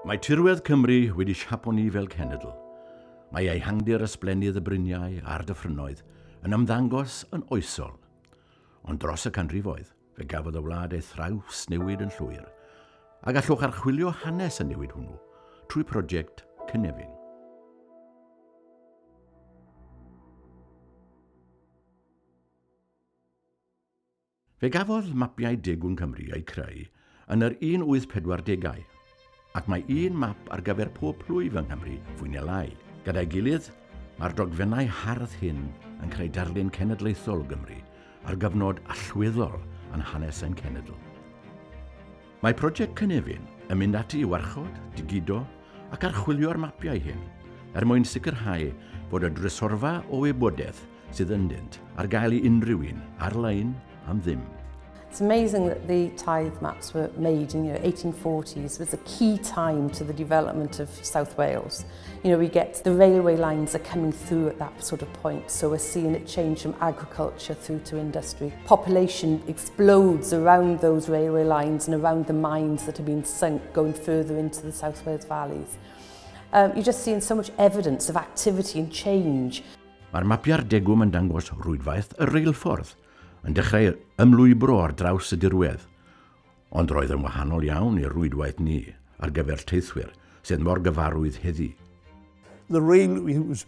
Mae tirwedd Cymru wedi siapo ni fel cenedl. Mae ehangdir ysblennydd y bryniau a'r dyffrynnoedd yn ymddangos yn oesol. Ond dros y canrifoedd, fe gafodd y wlad ei thrawsnewid yn llwyr, a gallwch archwilio hanes y newid hwnnw trwy prosiect Cynefin. Fe gafodd mapiau degwm Cymru eu creu yn yr 1840au, ac mae un map ar gyfer pob plwyf yng Nghymru fwy neu lai. Gyda'i gilydd, mae'r dogfennau hardd hyn yn creu darlun cenedlaethol o Gymru ar gyfnod allweddol yn hanes ein cenedl. Mae Project Cynefin yn mynd ati i warchod, digido ac archwilio'r mapiau hyn er mwyn sicrhau bod y drysorfa o wybodaeth sydd ynddynt ar gael i unrhyw un ar-lein am ddim. It's amazing that the tithe maps were made in you know, 1840s was a key time to the development of South Wales. You know, we get the railway lines are coming through at that sort of point, so we're seeing it change from agriculture through to industry. Population explodes around those railway lines and around the mines that have been sunk going further into the South Wales valleys. Um, you're just seeing so much evidence of activity and change. Mae'r mapiau'r degwm yn dangos rwydwaith y reilffordd yn dechrau ymlwybro ar draws y dirwedd, ond roedd yn wahanol iawn i'r rwydwaith ni ar gyfer teithwyr sydd mor gyfarwydd heddi. The rail was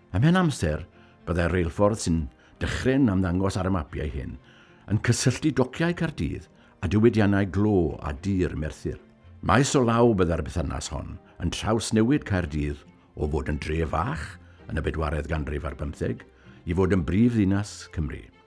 Ymhen amser, byddai'r reilffordd sy'n dychryn ymddangos ar y mapiau hyn yn cysylltu dociau Caerdydd a diwydiannau glo a dir Merthyr. Maes o law byddai'r bythynas hon yn trawsnewid Caerdydd o fod yn dre fach yn y bedwaredd ganrif ar bymtheg i fod yn brif ddinas Cymru.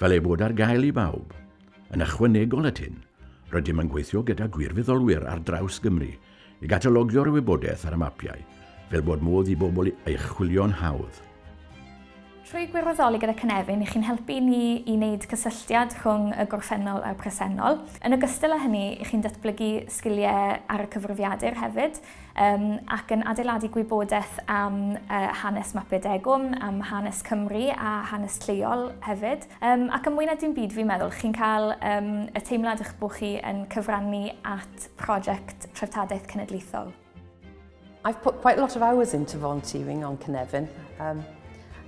fel ei bod ar gael i bawb. Yn ychwanegol at hyn, rydym yn gweithio gyda gwirfoddolwyr ar draws Gymru i gatalogio'r wybodaeth ar y mapiau fel bod modd i bobl ei chwilio'n hawdd. Trwy gwirfoddoli gyda Cynefin, chi'n helpu ni i wneud cysylltiad rhwng y gorffennol a'r presennol. Yn ogystal â hynny, chi'n datblygu sgiliau ar y cyfrifiadur hefyd, um, ac yn adeiladu gwybodaeth am uh, hanes Maped Egwm, am hanes Cymru a hanes lleol hefyd. Um, ac yn mwy na dim byd fi'n meddwl, chi'n cael um, y teimlad eich bod chi yn cyfrannu at prosiect treftadaeth cenedlaethol. I've put quite a lot of hours into volunteering on Cynefin. Um,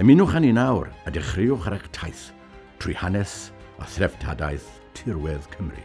Ymunwch â ni nawr a dechreuwch ar eich taith trwy hanes a threftadaeth tirwedd Cymru.